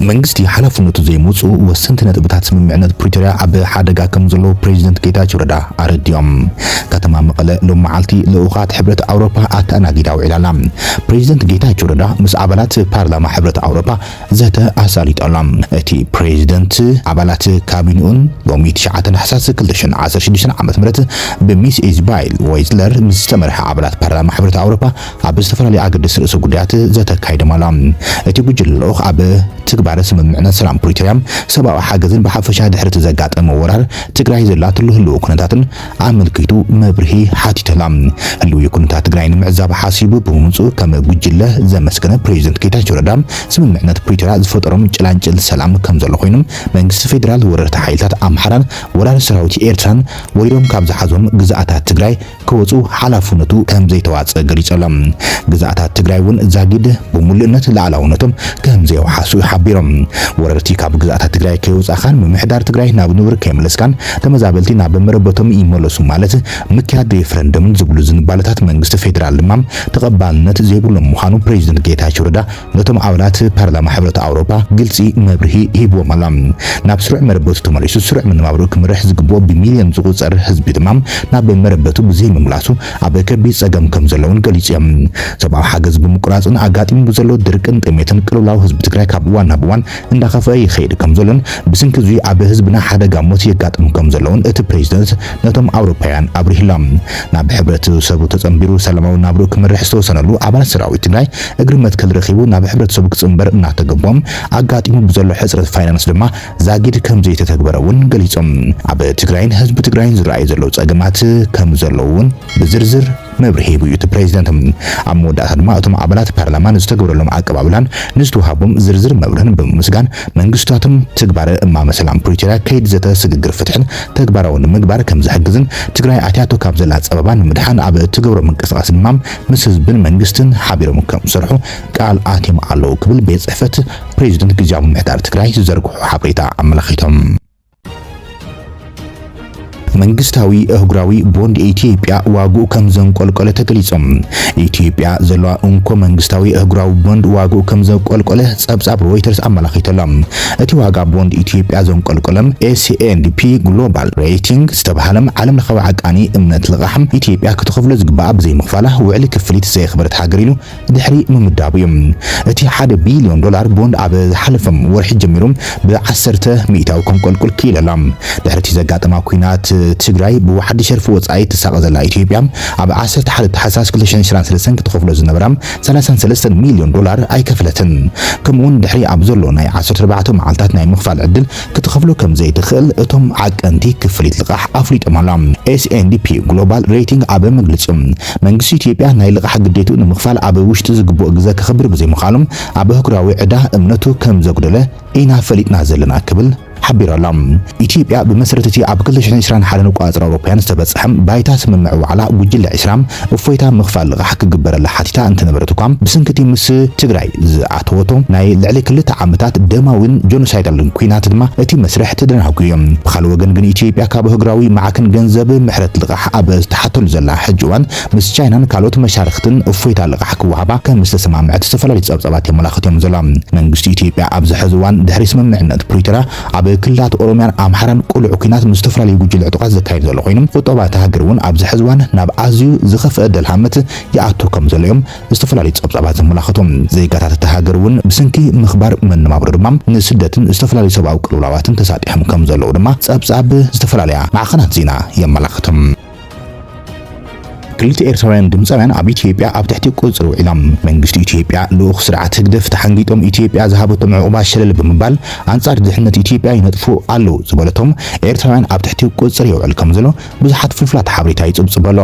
መንግስቲ ሓላፍነቱ ዘይምውፅኡ ወሰንቲ ነጥብታት ስምምዕነት ፕሪቶርያ ኣብ ሓደጋ ከምዘለዉ ፕሬዚደንት ጌታቸው ረዳ ኣረዲኦም። ከተማ መቐለ ሎሚ መዓልቲ ልኡኻት ሕብረት ኣውሮፓ ኣተኣናጊዳ ውዒላ ኣላ። ፕሬዚደንት ጌታቸው ረዳ ምስ ኣባላት ፓርላማ ሕብረት ኣውሮፓ ዘተ ኣሳሊጡ ኣሎ። እቲ ፕሬዚደንት ኣባላት ካቢንኡን ሎሚ ትሽዓተ ታሕሳስ ክልተ ሽሕን ዓሰርተ ሽዱሽተን ዓመተ ምህረት ብሚስ ኢዝባይል ወይዝለር ምስ ዝተመርሐ ኣባላት ፓርላማ ሕብረት ኣውሮፓ ኣብ ዝተፈላለዩ ኣገደስቲ ርእሰ ጉዳያት ዘተ ኣካይዶም ኣሎ። እቲ ጉጅለ ልኡኽ ኣብ ትግባረ ስምምዕነት ሰላም ፕሪቶርያ፣ ሰብኣዊ ሓገዝን ብሓፈሻ ድሕሪ'ቲ ዘጋጠመ ወራር ትግራይ ዘላትሉ ህልዊ ኩነታትን ኣመልኪቱ መብርሂ ሓቲቱ ኣሎ። ህልዊ ኩነታት ትግራይ ንምዕዛብ ሓሲቡ ብምምጽኡ ከም ጉጅለ ዘመስገነ ፕሬዚደንት ጌታቸው ረዳ ስምምዕነት ፕሪቶርያ ዝፈጠሮም ጭላንጭል ሰላም ከምዘሎ ኮይኑ መንግስቲ ፌዴራል ወረርቲ ሓይልታት ኣምሓራን ወራሪ ሰራዊት ኤርትራን ወሪሮም ካብ ዝሓዞም ግዝኣታት ትግራይ ክወጹ ሓላፍነቱ ከም ዘይተዋጸ ገሊጹ ኣሎ። ግዝኣታት ትግራይ እውን ዛጊድ ብሙሉእነት ልኣላውነቶም ከም ዘየውሓሱ ሓቢሮም። ወረርቲ ካብ ግዝኣታት ትግራይ ከየውጻእኻን ምምሕዳር ትግራይ ናብ ንቡር ከይመለስካን ተመዛበልቲ ናብ መረበቶም ይመለሱ ማለት ምክያድ ሬፈረንደምን ዝብሉ ዝንባለታት መንግስቲ ፌደራል ድማ ተቐባልነት ዘይብሎም ምዃኑ ፕረዚደንት ጌታቸው ረዳ ነቶም ኣባላት ፓርላማ ሕብረት ኣውሮጳ ግልጺ መብርሂ ሂብዎም ኣሎ። ናብ ስሩዕ መረበቱ ተመሊሱ ስሩዕ መነባብርኡ ክመርሕ ዝግብኦ ብሚልዮን ዝቑጸር ህዝቢ ድማ ናብ መረበቱ ብዘይምምላሱ ኣብ ከቢድ ጸገም ከምዘሎ'ውን ገሊጹ'ዮም። ሰብኣዊ ሓገዝ ብምቁራጽን ኣጋጢሙ ብዘሎ ድርቅን ጥሜትን ቅልውላው ህዝቢ ትግራይ ካብ እዋን ናብ እዋን እንዳኸፍኣ ይኸይድ ከምዘሎን ብስንኪ እዙይ ኣብ ህዝብና ሓደጋ ሞት የጋጥም ከምዘሎ'ውን እቲ ፕሬዚደንት ነቶም ኣውሮፓውያን ኣብሪሁሎም። ናብ ሕብረተሰቡ ተጸንቢሩ ሰላማዊ ናብርኡ ክመርሕ ዝተወሰነሉ ኣባል ሰራዊት ትግራይ፣ እግሪ መትከል ረኺቡ ናብ ሕብረተሰቡ ክፅምበር እናተገቦም ኣጋጢሙ ብዘሎ ሕፅረት ፋይናንስ ድማ ዛጊድ ከምዘይተተግበረ እውን ገሊፆም። ኣብ ትግራይን ህዝቢ ትግራይን ዝረኣዩ ዘለው ፀገማት ከምዘለው እውን ብዝርዝር መብርሂ ሂቡ እዩ እቲ ፕሬዚደንት። ኣብ መወዳእታ ድማ እቶም ኣባላት ፓርላማ ንዝተገበረሎም ኣቀባብላን ንዝተውሃቦም ዝርዝር መብርህን ብምምስጋን መንግስቲታቶም ትግባረ እማመ ሰላም ፕሪቶሪያ ከይዲ ዘተ ስግግር ፍትሕን ተግባራዊ ንምግባር ከምዘሕግዝን ትግራይ ኣትያቶ ካብ ዘላ ፀበባ ንምድሓን ኣብ እትገብሮ ምንቅስቓስ ድማ ምስ ህዝብን መንግስትን ሓቢሮም ከምዝሰርሑ ቃል ኣትዮም ኣለው ክብል ቤት ፅሕፈት ፕሬዚደንት ግዝያዊ ምምሕዳር ትግራይ ዝዘርግሖ ሓበሬታ ኣመላኺቶም። መንግስታዊ እህጉራዊ ቦንድ ኢትዮጵያ ዋግኡ ከም ዘንቆልቆለ ተገሊጾም። ኢትዮጵያ ዘለዋ እንኮ መንግስታዊ እህጉራዊ ቦንድ ዋግኡ ከም ዘቆልቆለ ጸብጻብ ሮይተርስ ኣመላኺቱ ኣሎ። እቲ ዋጋ ቦንድ ኢትዮጵያ ዘንቆልቆለም ኤስ ኤንድ ፒ ግሎባል ሬይቲንግ ዝተብሃለም ዓለም ለኸዊ ዓቃኒ እምነት ልቓሕ ኢትዮጵያ ክትኸፍሎ ዝግበኣ ብዘይምኽፋላ ውዕሊ ክፍሊት ዘየኽበረት ሃገር ኢሉ ድሕሪ ምምዳቡ እዩ። እቲ ሓደ ቢልዮን ዶላር ቦንድ ኣብ ዝሓለፈ ወርሒ ጀሚሩ ብዓሰርተ ሚእታዊ ከንቆልቁል ክኢሉ ኣሎ። ድሕሪ እቲ ዘጋጠማ ኲናት ትግራይ ብዋሕዲ ሸርፊ ወፃኢ እትሳቐ ዘላ ኢትዮጵያ ኣብ ዓሰርተ ሓደ ታሕሳስ ክልተ ሽሕን ዕስራን ሰለስተን ክትኸፍሎ ዝነበራ ሰላሳን ሰለስተን ሚልዮን ዶላር ኣይከፈለትን፣ ከምኡ'ውን ድሕሪ ኣብ ዘሎ ናይ ዓሰርተ ኣርባዕተ መዓልታት ናይ ምኽፋል ዕድል ክትኸፍሎ ከም ዘይትኽእል እቶም ዓቀንቲ ክፍሊት ልቓሕ ኣፍሊጦም ኣሎም። ኤስ ኤንድ ፒ ግሎባል ሬቲንግ ኣብ መግልጺኡ፣ መንግስቲ ኢትዮጵያ ናይ ልቓሕ ግዴትኡ ንምኽፋል ኣብ ውሽጢ ዝግብኦ ግዘ ከኽብር ብዘይምኽኣሉ ኣብ ኣህጉራዊ ዕዳ እምነቱ ከም ዘጉደለ ኢና ፈሊጥና ዘለና ክብል ሓቢራ ኣላ። ኢትዮጵያ ብመሰረት እቲ ኣብ ክልተ ሽሕን ዕስራን ሓደን ኣቆፃፅራ ኣውሮፓውያን ዝተበፀሐ ባይታ ስምምዕ ዋዕላ ጉጅለ ዕስራ እፎይታ ምኽፋል ልቓሕ ክግበረላ ሓቲታ እንተነበረት እኳ ብስንኪ እቲ ምስ ትግራይ ዝኣተወቶ ናይ ልዕሊ ክልተ ዓመታት ደማዊን ጆኖሳይዳልን ኲናት ድማ እቲ መስርሕ ተደናጒዩ እዮ። ብኻልእ ወገን ግን ኢትዮጵያ ካብ ኣህጉራዊ ማዕክን ገንዘብ ምሕረት ልቓሕ ኣብ እትሓተሉ ዘላ ሕጂ እዋን ምስ ቻይናን ካልኦት መሻርኽትን እፎይታ ልቓሕ ክወሃባ ከም ዝተሰማምዐት ዝተፈላለዩ ፀብፃባት የመላኽቱ እዮም ዘለው። መንግስቲ ኢትዮጵያ ኣብዚ ሐዚ እዋን ድሕሪ ስምምዕነት ፕሪቶርያ ኣብ ክልላት ኦሮሚያን ኣምሓራን ቅሉዕ ኲናት ምስ ዝተፈላለዩ ጉጅለ ዕጡቓት ዘካይድ ዘሎ ኮይኑ ቑጠባ እታ ሃገር እውን ኣብዚ ሐዚ እዋን ናብ ኣዝዩ ዝኸፍኣ ደልሃመት ይኣቱ ከም ዘሎ እዮም ዝተፈላለዩ ፀብፃባት ዘመላኽቱ። ዜጋታት እታ ሃገር እውን ብስንኪ ምኽባር መነባብሮ ድማ ንስደትን ዝተፈላለዩ ሰብኣዊ ቅልውላዋትን ተሳጢሖም ከም ዘለው ድማ ፀብፃብ ዝተፈላለያ ማዕኸናት ዜና የመላኽቱ። ክልተ ኤርትራውያን ድምጻውያን ኣብ ኢትዮጵያ ኣብ ትሕቲ ቁጽጽር ውዒሎም። መንግስቲ ኢትዮጵያ ልኡኽ ስርዓት ህግደፍ ተሓንጊጦም ኢትዮጵያ ዝሃበቶም ዑቕባ ሸለል ብምባል ኣንጻር ድሕነት ኢትዮጵያ ይነጥፉ ኣለዉ ዝበለቶም ኤርትራውያን ኣብ ትሕቲ ቁጽጽር የውዕል ከምዘሎ ብዙሓት ፍልፍላት ሓበሬታ ይጽብጽብ ኣሎ።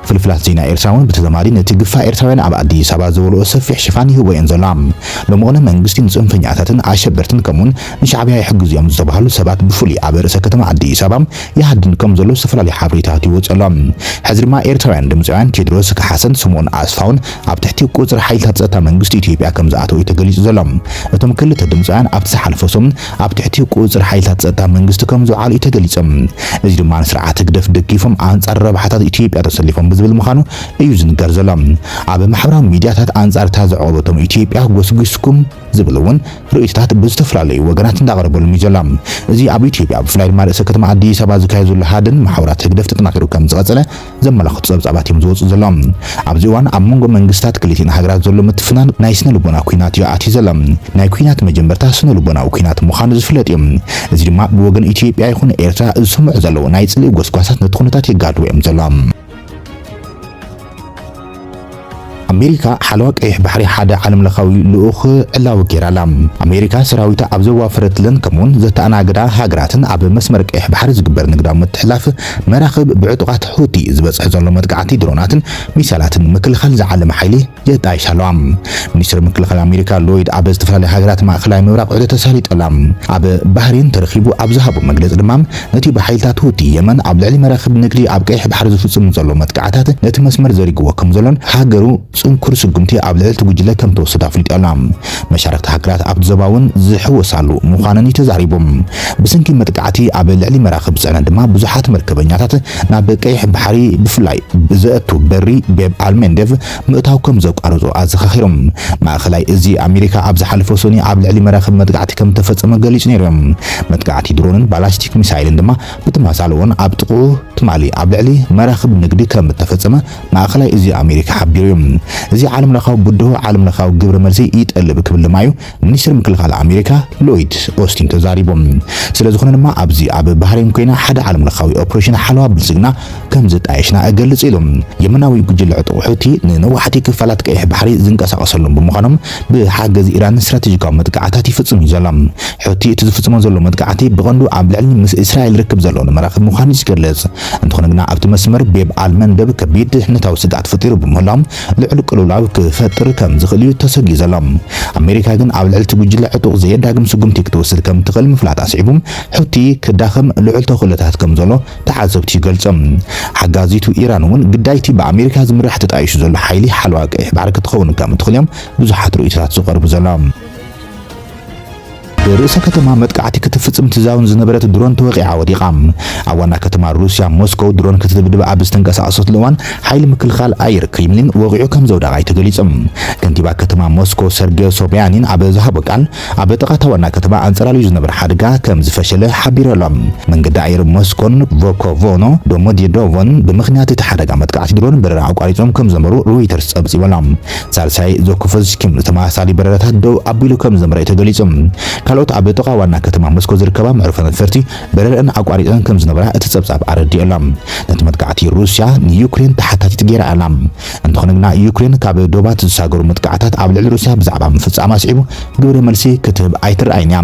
ፍልፍላት ዜና ኤርትራ እውን ብተዛማዲ ነቲ ግፋ ኤርትራውያን ኣብ ኣዲስ ኣበባ ዝበልኦ ሰፊሕ ሽፋን ይህቦ እየን ዘላ። ብመቕለ መንግስቲ ንጽንፈኛታትን ኣሸበርትን ከምኡውን ንሻዕብያ ይሕግዙ እዮም ዝተባህሉ ሰባት ብፍሉይ ኣብ ርእሰ ከተማ ኣዲስ ኣበባ ይሃድን ከም ዘሎ ዝተፈላለዩ ሓበሬታት ይወጽእ ኣሎ። ሕዚ ድማ ኤርትራውያን ድምጻውያን ቴድሮስ ካሓሰን ስምኦን ኣስፋውን ኣብ ትሕቲ ቁጽጽር ሓይልታት ጸጥታ መንግስቲ ኢትዮጵያ ከም ዝኣተው እዩ ተገሊጹ ዘሎ። እቶም ክልተ ድምጻውያን ኣብቲ ዝሓለፈ ሰሙን ኣብ ትሕቲ ቁጽጽር ሓይልታት ጸጥታ መንግስቲ ከም ዝውዓሉ እዩ ተገሊጹ። እዚ ድማ ንስርዓት ህግደፍ ደጊፎም ኣንጻር ረብሓታት ኢትዮጵያ ተሰሊፎም ብዝብል ምዃኑ እዩ ዝንገር ዘሎ። ኣብ ማሕበራዊ ሚድያታት ኣንጻር እታ ዘዕቖበቶም ኢትዮጵያ ጎስጒስኩም ዝብል እውን ርእይቶታት ብዝተፈላለዩ ወገናት እንዳቐረበሉም እዩ ዘሎ። እዚ ኣብ ኢትዮጵያ ብፍላይ ድማ ርእሰ ከተማ ኣዲስ ኣበባ ዝካየድ ዘሎ ሃድን መሓውራት ህግደፍ ተጠናኺሩ ከም ዝቐጸለ ዘመላኽቱ ጸብጻባት እዮም ዝወጽኡ ዘሎ። ኣብዚ እዋን ኣብ መንጎ መንግስታት ክልቲኤን ሃገራት ዘሎ ምትፍናን ናይ ስነ ልቦና ኲናት እዩ ኣትዩ ዘሎ። ናይ ኲናት መጀመርታ ስነ ልቦናዊ ኲናት ምዃኑ ዝፍለጥ እዩ። እዚ ድማ ብወገን ኢትዮጵያ ይኹን ኤርትራ ዝስምዑ ዘለዉ ናይ ጽልኢ ጎስጓሳት ነቲ ኩነታት የጋድድዎ እዮም ዘሎ። ኣሜሪካ ሓለዋ ቀይሕ ባሕሪ ሓደ ዓለምለኻዊ ልኡኽ ዕላዊ ገይራ ኣላ። ኣሜሪካ ሰራዊታ ኣብ ዘዋፈረትለን ከምኡውን ዘተኣናግዳ ሃገራትን ኣብ መስመር ቀይሕ ባሕሪ ዝግበር ንግዳዊ ምትሕልላፍ መራኽብ ብዕጡቓት ሑቲ ዝበጽሕ ዘሎ መጥቃዕቲ ድሮናትን ሚሳይላትን ንምክልኻል ዝዓለመ ሓይሊ ልጣይ ሳሏ ሚኒስተር ምክልኻል ኣሜሪካ ሎይድ ኣብ ዝተፈላለያ ሃገራት ማእከላይ ምብራቕ ዑደት ኣሳሊጡ'ላ። ኣብ ባህሬን ተረኺቡ ኣብ ዝሃቦ መግለጺ ድማ፣ ነቲ ብሓይልታት ሁቲ የመን ኣብ ልዕሊ መራኽብ ንግዲ ኣብ ቀይሕ ባሕሪ ዝፍጽሙ ዘሎ መጥቃዕታት ነቲ መስመር ዘሪግዎ ከምዘሎን ሃገሩ ጽንኩር ስጉምቲ ኣብ ልዕሊ'ቲ ጉጅለ ከምትወስድ ኣፍሊጣ'ላ። መሻርኽቲ ሃገራት ኣብቲ ዞባ'ውን ዝሕወሳሉ ምዃነን'ዩ ተዛሪቡ። ብሰንኪ መጥቃዕቲ ኣብ ልዕሊ መራኽብ ጽዕነት ድማ ብዙሓት መርከበኛታት ናብ ቀይሕ ባሕሪ ብፍላይ ብዘእቱ በሪ ቤብ ኣል መንደቭ ምእታው ከም ዘቋርጹ ኣዘኻኺሮም። ማእከላይ እዚ ኣመሪካ ኣብ ዝሓለፈ ሰኑይ ኣብ ልዕሊ መራኽብ መጥቃዕቲ ከም እተፈጸመ ገሊጹ ነይሩ እዩ። መጥቃዕቲ ድሮንን ባላስቲክ ሚሳይልን ድማ ብተመሳሳሊ'ውን ኣብ ጥቕኡ ትማሊ ኣብ ልዕሊ መራኽብ ንግዲ ከም እተፈጸመ ማእከላይ እዚ ኣመሪካ ሓቢሩ እዩ። እዚ ዓለምለኻዊ ብድሆ ዓለምለኻዊ ግብረ መልሲ ይጠልብ ክብል ድማ እዩ ሚኒስትር ምክልኻል ኣሜሪካ ሎይድ ኦስቲን ተዛሪቦም። ስለዝኾነ ድማ ኣብዚ ኣብ ባህሬን ኮይና ሓደ ዓለም ለኻዊ ኦፕሬሽን ሓለዋ ብልፅግና ከምዘጣየሽና እገልፅ ኢሉ። የመናዊ ጉጅለ ዕጡቕ ሑቲ ንነዋሕቲ ክፋላት ቀይሕ ባሕሪ ዝንቀሳቐሰሎም ብምዃኖም ብሓገዝ ኢራን ስትራቴጂካዊ መጥቃዕታት ይፍፅም እዩ ዘሎ። ሑቲ እቲ ዝፍፅሞ ዘሎ መጥቃዕቲ ብቐንዱ ኣብ ልዕሊ ምስ እስራኤል ርክብ ዘለወን መራኽብ ምዃኑ እዩ ዝገልፅ። እንተኾነ ግና ኣብቲ መስመር ቤብ ኣል መንደብ ከቢድ ድሕነታዊ ስግኣት ፈጢሩ ብምህላው ልዑል ቅልውላው ክፈጥር ከም ዝኽእል'ዩ ተሰግዩ ዘሎ። ኣሜሪካ ግን ኣብ ልዕሊ'ቲ ጉጅለ ዕጡቕ ዘየዳግም ስጉምቲ ክትወስድ ከም ትኽእል ምፍላጣ ስዒቡ፣ ሑቲ ክዳኸም ልዑል ተኽእሎታት ከም ዘሎ ተዓዘብቲ ይገልጹ። ሓጋዚቱ ኢራን'ውን ግዳይ'ቲ ብኣሜሪካ ዝምራሕ ተጣይሹ ዘሎ ሓይሊ ሓለዋ ቀይሕ ባሕሪ ክትኸውን ከም እትኽእል'ዮም ብዙሓት ርእይቶታት ዝቐርቡ ዘሎ። ብርእሰ ከተማ መጥቃዕቲ ክትፍጽም ትዛውን ዝነበረት ድሮን ተወቒዓ ወዲቓ። ኣብ ዋና ከተማ ሩስያ ሞስኮው ድሮን ክትድብድብ ኣብ ዝተንቀሳቐሰትሉ እዋን ሓይሊ ምክልኻል ኣየር ክሪምሊን ወቒዑ ከምዘውደቓ'ዩ ተገሊጹ። ከንቲባ ከተማ ሞስኮ ሰርጌ ሶብያኒን ኣብ ዝሃቦ ቃል ኣብ ጥቓ እታ ዋና ከተማ ኣንጸላልዩ ዝነበረ ሓደጋ ከምዝፈሸለ ሓቢሩ ኣሎ። መንገዲ ኣየር ሞስኮን ቮኮቮኖ ዶሞዴዶቮን ብምኽንያት እቲ ሓደጋ መጥቃዕቲ ድሮን በረራ ኣቋሪጾም ከምዝነበሩ ሮይተርስ ጸብጺቡ ኣሎ። ሳልሳይ ዞኩፎዝኪ ንተመሳሳሊ በረራታት ደው ኣቢሉ ከም ዘምረ'ዩ ተገሊጹ። ካልኦት ኣብ ጥቓ ዋና ከተማ ሞስኮ ዝርከባ መዕርፎ ነፈርቲ በረረኣን ኣቋሪጸን ከም ዝነበራ እቲ ጸብጻብ ኣረዲኡ ኣሎ። ነቲ መጥቃዕቲ ሩስያ ንዩክሬን ተሓታቲት ገይራ ኣላ። እንተኾነ ግና ዩክሬን ካብ ዶባት ዝሳገሩ መጥቃዕታት ኣብ ልዕሊ ሩስያ ብዛዕባ ምፍጻማ ኣስዒቡ ግብረ መልሲ ክትህብ ኣይትርኣይን እያ።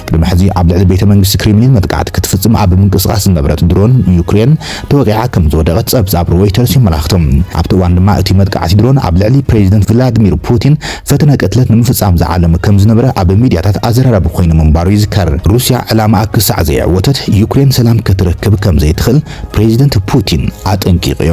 ቅድሚ ሕዚ ኣብ ልዕሊ ቤተ መንግስቲ ክሪምሊን መጥቃዕቲ ክትፍጽም ኣብ ምንቅስቓስ ዝነበረት ድሮን ዩክሬን ተወቒዓ ከም ዝወደቐት ጸብጻብ ሮይተርስ የመላኽቱ። ኣብቲ እዋን ድማ እቲ መጥቃዕቲ ድሮን ኣብ ልዕሊ ፕሬዚደንት ቭላድሚር ፑቲን ፈተነ ቅትለት ንምፍጻም ዝዓለመ ከም ዝነበረ ኣብ ሚድያታት ኣዘራራቢ ኮይኑ ምንባሩ ይዝከር። ሩስያ ዕላማኣ ክሳዕ ዘየዕወተት ዩክሬን ሰላም ክትረክብ ከም ዘይትኽእል ፕሬዚደንት ፑቲን ኣጠንቂቑ'ዩ።